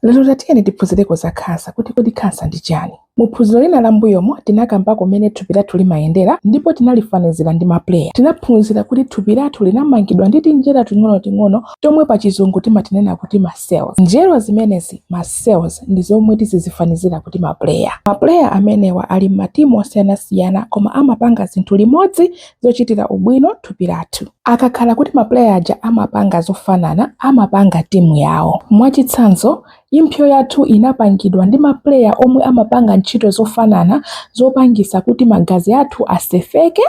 Lero tatiyeni tiphunzireko za khansa kuti kodi khansa ndi chani. Mu phunziro lina la mbuyomo tinakambako mmene thupi lathu limayendera ndipo tinalifanizira ndi ma player. Tinaphunzira kuti thupi lathu linamangidwa ndi tinjerwa ting'onoting'ono tomwe pa chizungu timatinena kuti ma cells. Njerwa zimenezi, ma cells, ndi zomwe tizizifanizira kuti ma player. Ma player amenewa ali mmatimu osiyanasiyana koma amapanga zinthu limodzi zochitira ubwino thupi lathu. Akakhala kuti mapuleya aja amapanga zofanana, amapanga timu yawo. Mwachitsanzo, impso yathu inapangidwa ndi mapuleya omwe amapanga ntchito zofanana zopangisa kuti magazi athu asefeke,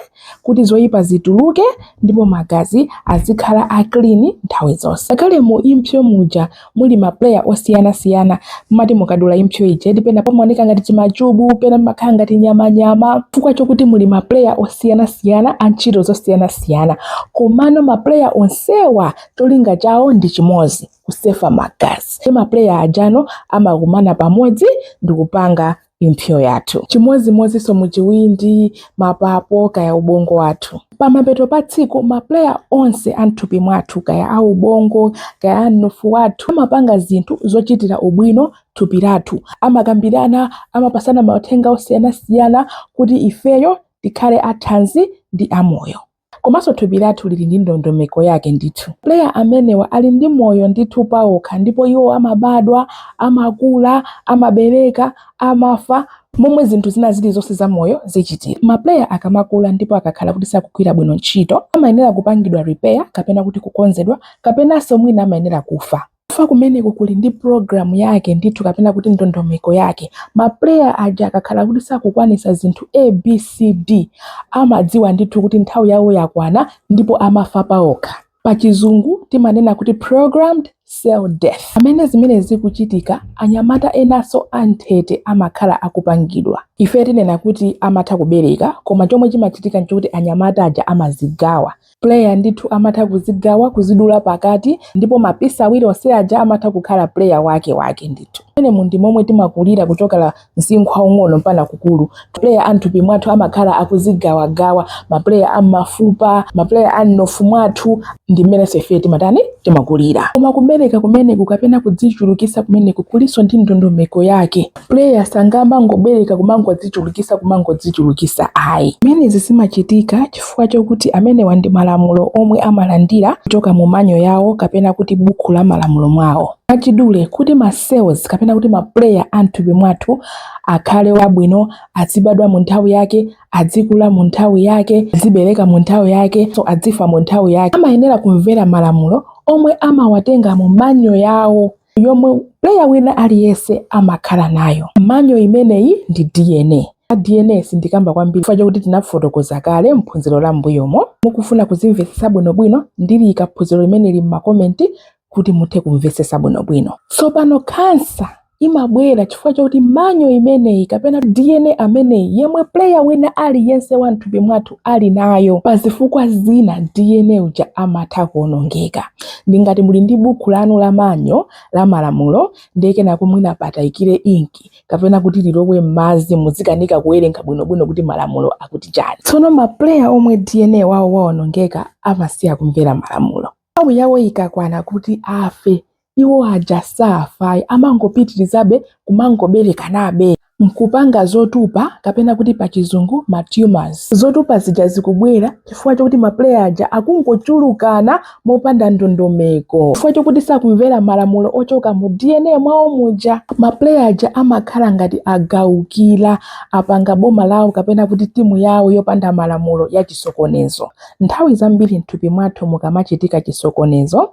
kuti zoyipa zituluke ndipo magazi azikhala a clean nthawi zonse. Ngakhale mu impso muja muli ma player osiyana siyana mumati mukadula impso ija eti pena pamaoneka ngati chimachubu pena pamakhala ngati nyamanyama chifukwa chokuti muli ma player osiyana siyana a ntchito zosiyana siyana komano ma player onsewa cholinga chawo ndi chimodzi kusefa magazi nde ma player ajano amakumana pamodzi ndikupanga impso yathu chimodzimodzinso mu chiwindi mapapo kaya ubongo wathu pamapeto pa tsiku mapuleya onse a mthupi mwathu kaya a ubongo kaya a mnofu wathu amapanga zinthu zochitira ubwino thupi lathu amakambirana amapasana mauthenga osiyanasiyana kuti ifeyo tikhale athanzi ndi amoyo Komanso thupi lathu lili ndi ndondomeko yake ndithu. Ma player amenewa ali ndi moyo ndithu paokha ndipo iwo amabadwa, amakula, amabereka, amafa, momwe zinthu zina zilizonse za moyo zichitira. Ma player akamakula ndipo akakhala kuti sakugwira bwino ntchito, amayenera kupangidwa repair kapena kuti kukonzedwa kapenanso mwina amayenera kufa. Kufa kumeneku kuli ndi program yake ndithu kapena kuti ndondomeko yake. Ma player aja akakhala kuti sakukwanisa zinthu A, B, C, D amadziwa ndithu kuti nthawi yawo yakwana ndipo amafa paokha. Pachizungu timanena kuti programmed cell death. Pamene zimenezi zikuchitika, anyamata enaso anthete amakhala akupangidwa. Ife tinena kuti amatha kubereka koma chomwe chimachitika nchokuti anyamata aja amazigawa Player ndithu amatha kuzigawa, kuzidula pakati ndipo ma piece awiri onse aja amatha kukhala player wake wake ndithu. Umenewu ndi momwe timakulira kuchoka pa msinkhu waung'ono mpana kukulu. Player a mthupi mwathu amakhala akuzigawagawa, ma player a mmafupa, ma player a mnofu mwathu ndi mmenenso ifeyo timatani timakulira. Koma kubereka kumeneku kapena kudzichulukisa kumeneku kulinso ndi ndondomeko yake. player sangamangobereka kumangodzichulukisa kumangodzichulukisa ayi zimenezi zimachitika chifukwa chokuti amenewa ndi malamulo omwe amalandira kuchoka mu manual yawo kapena kuti buku la malamulo lawo mwachidule kuti ma cells kapena kuti ma player a mthupi mwathu akhale abwino azibadwa mu nthawi yake adzikula mu nthawi yake azibereka mu nthawi yakeso adzifa mu nthawi yake amayenera kumvera malamulo omwe amawatenga mu manual yawo yomwe player wina aliyense amakhala nayo. Manual imeneyi ndi DNA. DNA sindikamba kwambiri chifukwa chakuti tinafotokoza kale m'phunziro la m'mbuyomo. Mukufuna kuzimvetsetsa bwinobwino, ndiliika phunziro limeneli m'makomenti kuti muthe kumvetsetsa bwinobwino. Tsopano khansa imabwera chifukwa chakuti manual imeneyi kapena DNA ameneyi yemwe player wina aliyense wa m'thupi mwathu ali nayo, pa zifukwa zina DNA uja amatha kuwonongeka. ndi ngati muli ndi bukhu lanu la manual la malamulo ndiye kenako mwina patayikire inki kapena kuti lilowe m'madzi muzikanika kuwerenga bwinobwino kuti malamulo akuti chani tsono mapuleya omwe dna wawo waonongeka amasiya kumvera malamulo nthawi yawo ikakwana kuti afe iwo aja safayi amangopitirizabe kumangoberekanabe nkupanga zotupa kapena kuti pa chizungu ma tumors. Zotupa zija zikubwera chifukwa chokuti ma player aja akungochulukana mopanda ndondomeko. Chifukwa chokuti sakumvera malamulo ochoka mu DNA mwawo muja. Ma player aja amakhala ngati agalukira, apanga boma lawo kapena kuti timu yawo yopanda malamulo ya chisokonezo. Nthawi zambiri mthupi mwathu mukamachitika chisokonezo,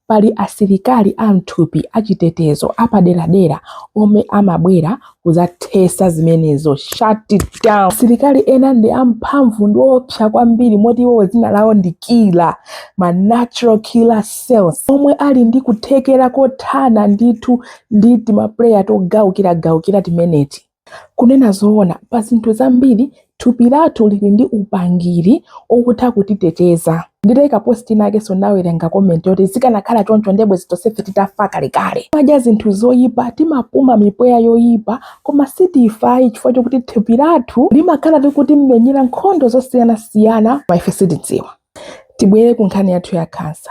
Pali asilikali a m'thupi achitetezo apaderadera omwe amabwera kuzathesa zimenezo, shut it down. Asilikali ena ndi amphamvu ndi oopsa kwambiri moti iwowo dzina lawo ndi killer, ma natural killer cells omwe ali ndi kuthekera kothana ndithu ndi timaplayer togalukiragalukira timeneti. Kunena zoona, pa zinthu zambiri thupi lathu lili ndi upangiri okutha kutiteteza. Nditaika post inakenso ndinawerenga comment yoti zikanakhala choncho ndiye bwezi tonsefe titafa kalekale. Timadya zinthu zoipa, timapuma mipweya yoipa, koma sitifayi chifukwa chokuti thupi lathu limakhala likutimenyera nkhondo zosiyanasiyana koma ife sitidziwa. Tibwere ku nkhani yathu ya khansa.